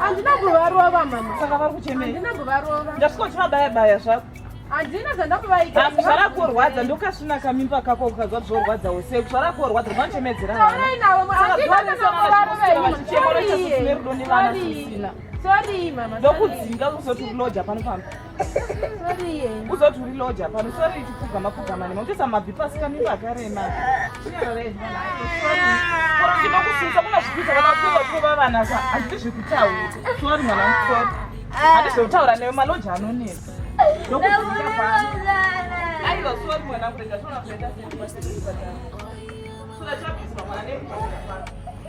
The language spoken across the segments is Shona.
handina kuvarova mama saka vari kuchemei handina kuvarova ndasvika uchivabaya baya zvako handina zvandakuvaita asi zvarakorwadza ndokasvina kamimba kako ukazwa zvorwadza use zvarakorwadza vanochemedzera vanachichemoro chasisine rudo nevana zvisina ndokudzinga kuzoti uloja pano pamba uzoti uri loja pano sori tipfugama pfugama nema utoisa mabvi pasi kamimba akarema inokusinisa kuna zvikuita vanakuva kuva vana sa hazviti zvekutaura sori mwana musori handizvekutaura newe maloja anonetsa ndokuia pano aiwa sori mwana kurega tonakuenda sekuaaa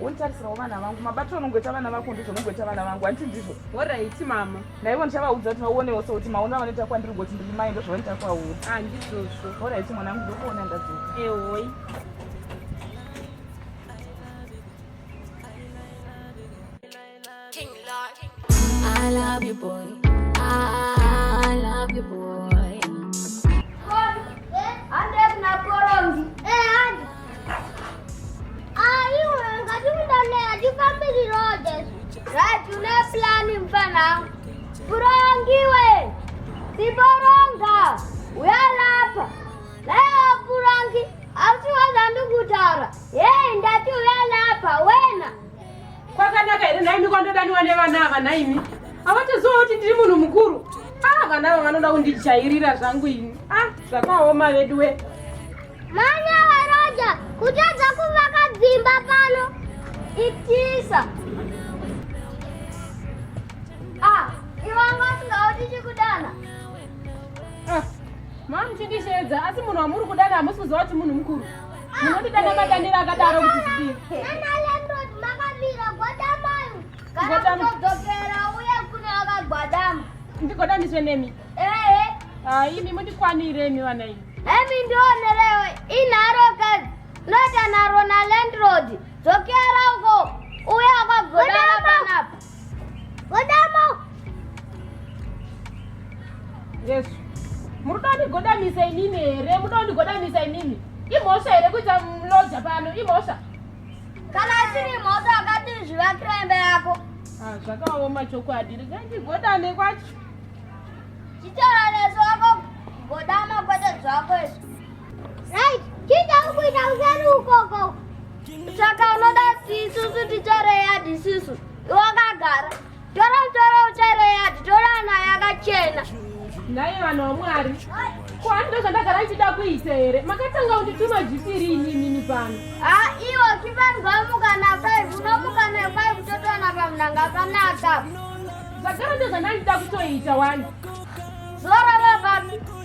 wonditarisirawo vana vangu mabatiro anongoita vana vako ndizvo unongoita vana vangu handiti ndizvo horaiti mama naivo ndichavaudza kuti vaonewo so kuti maona vanoita kwandiri kuti ndiri mai ndozvavanoita kwauri handizvozvo ah, horaiti mwanangu ndokuona ndadzoka ehoi King Lord. I love you, boy. I love you, boy. Burangiwe! Si Boranga! We are Lapa! Leo Burangi! Asiwa Zandu Gutara! Yei, ndati we are Lapa! Wena! Kwakanaka here nhaimi kwandodaniwa nevana ava nhaimi? Hawatoziva kuti ndiri munhu mukuru. Ah, vana ava vanoda kundijairira zvangu ini. Ah, zvakaoma veduwe. Manya varoja kutadza kuvaka dzimba pano. Itisa. Ah, ivanga singaudi chikudana. Ah, mamuchindisheedza asi munhu wamuri kudana hamusi kuziva kuti munhu mukuru. Munondida nemadanira akadaro kuti zidii? Nana landlord makamira gwadamayo. Kana kutodzokera uye kune akagwadama. Ndigoda ndizwe nemi. Ehe. Ah, imi mundikwanire imi vana imi. Emi ndionerewe inharo kazi. Nota naro na landlord. Dzokera uko. Uye akagwadama panapa. Godamo. Yes. Murudo ndigodamisa inini here? Murudo ndigodamisa inini. Imhosva here kuita mloja pano? Imhosva. Kana asiri imhosva akati zvivakira imba yako. Ah, zvakaoma chokwadi. Regai ndigodane kwacho. Chitaura nesu wako godama kwete zvako izvi. Right, chinja ukuita useri ukoko. Saka unoda sisusu titore yadhi susu. Wakagara. Tora tora utore yadhi, tora ana yakachena. Nhai vanhu vaMwari. Ko handiko zvandagara ndichida kuita here? Makatanga kundituma zvipiri ini nini pano. Ah, iwo kipanzwa mukana 5, unomuka ne 5 totona pamunanga kanaka. Zvagara ndozvandandida kutoita wani. Zora vababi.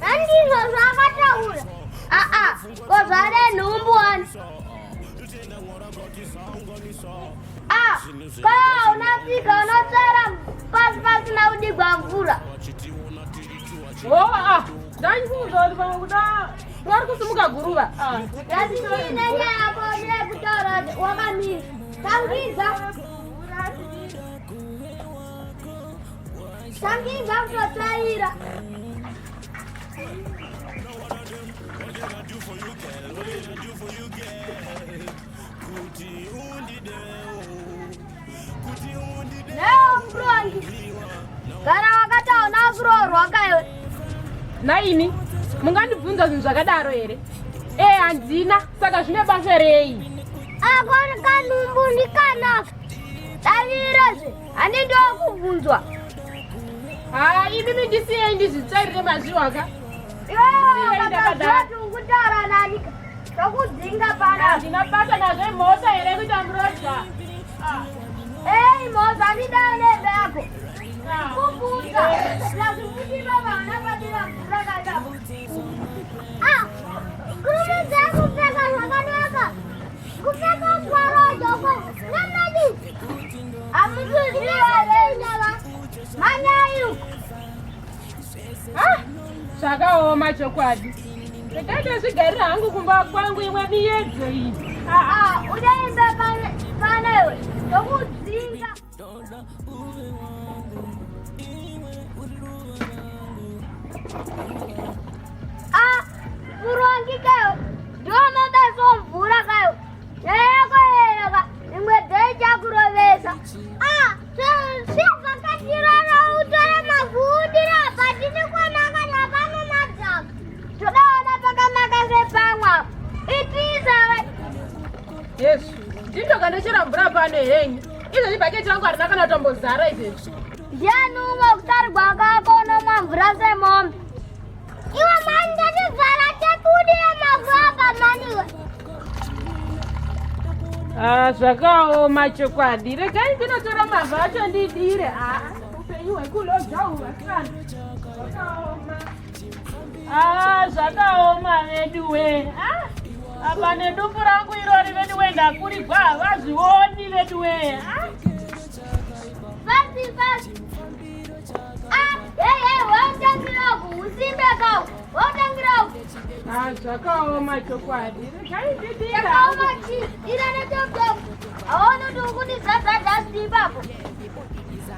Handizvo zvaakataura. Aa, ko zvare nhumbu wani. Ah, ko unafika unotsara pasi pasina kudigwa mvura. Oh, ah, dai kuudzwa kuti pamwe kuda vari kusimuka guruva. Ndati ndine nyaya yako yekutaura wakamira. Tangiza. Tangi ndakutotaira. Leo mrongi. Kana wakataona kuroorwa kaiwe. Naini, mungandibvunza zvinhu zvakadaro here? Eh, handina, saka zvine basa rei? Ako kanumbu ndikanaka. Tavirazve. Ane ndokubvunzwa. Ah, imi mindisiye ndizvitsvairire mazviwo aka. Iwe ndakadaro. Ndakadaro nani? Ndakudzinga pana. Ndina pata nazve mota here kuita mroja. Ah. Hey, moza ndidaro nembe yako. Ah. Kubvunza. Ndazvikuti baba anapatira mvura kadabu. Ah. Kurume dzako pfeka zvakanaka. zvakaoma chokwadi ndakaita zvigarira hangu kumba kwangu imwe miyedzo iyi udaenda panayo ndokudzinga Doda uve wangu, iwe uri ruva rangu. Ah, murongi kayo, ndonoda somvura kayo, nyaya yako yereka, imwe dei chakurovesa. Ah, zvibva katirara utore makuudira apa, tiri kwanaka napano madzaka. Todaona pakanaka sepamwa, itiisa. Yesu, ndindokandichera mvura pano henyu. Izvezvi bhaketi rangu harina kana kutombozara izvezvi. Ndiani umwe kutarigwa kako unomwa mvura semombe. Iwe mani ndatibvara tebudire mavaba maniwe. Ah, zvakaoma chokwadi. Regai ndinotora mavha acho ndidire. Ah, upenyu hwekulodza uhu vasana. Zvakaoma. Ah, zvakaoma veduwe ah, apa nedumbu rangu irori veduwe ndakurigwa havazvioni veduwe ah. Ah, zvakaoma chokwadi zvaiiaoma chii ira netotoaona kuti ukundizadzadza asi ipapo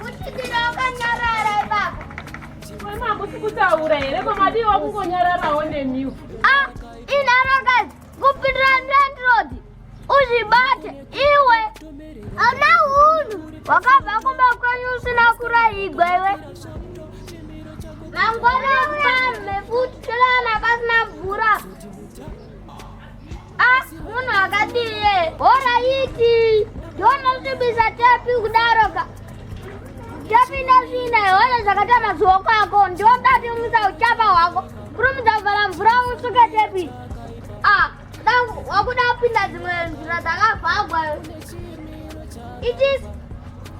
Kuchitira wakanyarara ipapo. Mama hakusi kutaura here ko madii wakungonyararawo nemiwo. Ah, inharakadzi kupindira landlord uzvibate iwe ana hunhu wakabva kumba kwenyu usina kuraigwa iwe mangwana uya mhefuti tolana pasina mvura Ah, munhu akadie horaiti ndonozvibisa tepi kudaroka tepi ndazvina ihoyo zvakatama zuwo kwako ndiodatimisa uchapa hwako kurumidza kuvhara mvura usuke tepi ah, wakuda kupinda dzimwe nzira dzakavhagwa itis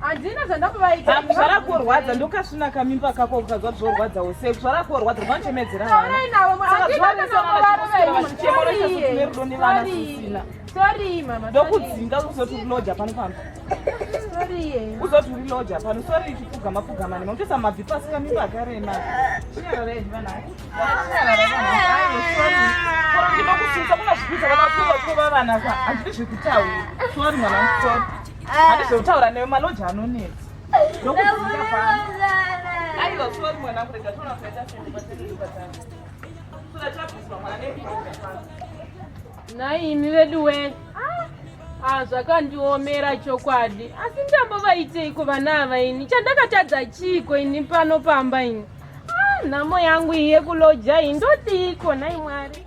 handina zvandakuvaita ah, zvarakorwadza ndokasvina kamimba kako ukazwa zvorwadzawo sei zvarakorwadza vanochemedzera vanaerudo nevana zvisina ndokudzinga kuzoti uloja pano pano kuzoti uri loja pano sori chipfugama pfugama nema kutoisa mabvi pasi kamimba akarema ndinokusunisa kuna zvikuita vanakuva vana handidi zvekutaura sori mwana musori Handizotaura newe maloji anonetsa. Ndokuziva pano. Aiwa sorry mwanangu rega toona kuita sende kwatende ndikatanga. Sura chabviswa mwana nebizokufa. Nhai imi veduwe. Ah, ah zvakandiomera chokwadi. Asi ndambovaiteiko vana ava ini? Chandakatadza chiiko ini pano pamba ini? Ah, nhamo yangu iye kuloja iyi ndodiiko nhai Mwari?